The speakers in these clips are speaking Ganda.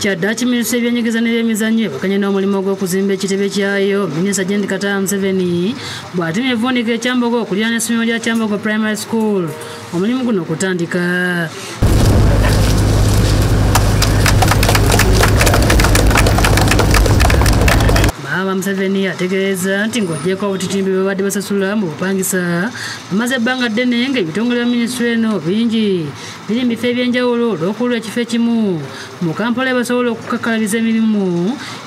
kyaddaaki minisita ebyenyigeza n'ebyemizannyo ebakanye n'omulimu gw'okuzimba ekitebe kyayo minisita jendi kataya museveni bw'atemye evuunika ekyambogo okulira n'essomero lya kyambogo primary school omulimu guno okutandika maama museveni ategeeza nti ng'ogyeko obutitimbi bwe babadde basasula mu bupangisa amaze ebbanga ddene nga ebitongole bya minisitule eno bingi biri mu bifo ebyenjawulo olw'okulula ekifo ekimu mu kampala ebasobola okukakkalabiza emirimu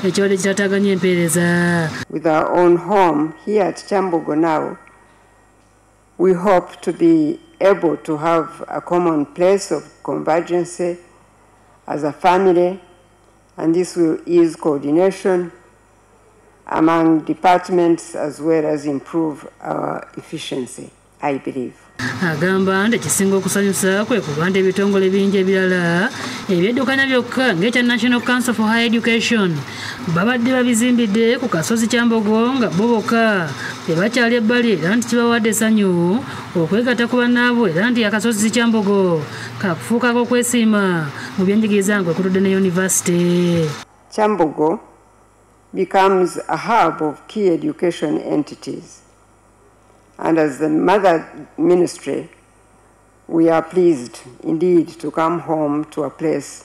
ekibadde kitataganya empeereza with our own home here at kyambogo now we hope to be able to have a common place of convergency as a family And this will ease coordination among departments as well as improve our efficiency, I believe. agamba nti ekisinga okusanyusa kwe kuba nti ebitongole bingi ebirala ebyeddukanya byokka ng'ekya national council for high education babadde babizimbidde ku kasozi kyambogo nga bo bokka tebakyali ebbali era nti kibawadde essanyu okwegatta ku bannaabwe era nti akasozi kyambogo Kakufuuka k'okwesiima mu byenjigiriza ng'okutudde ne yunivasite. Kyambogo becomes a hub of key education entities. And as the mother ministry, we are pleased indeed to come home to a place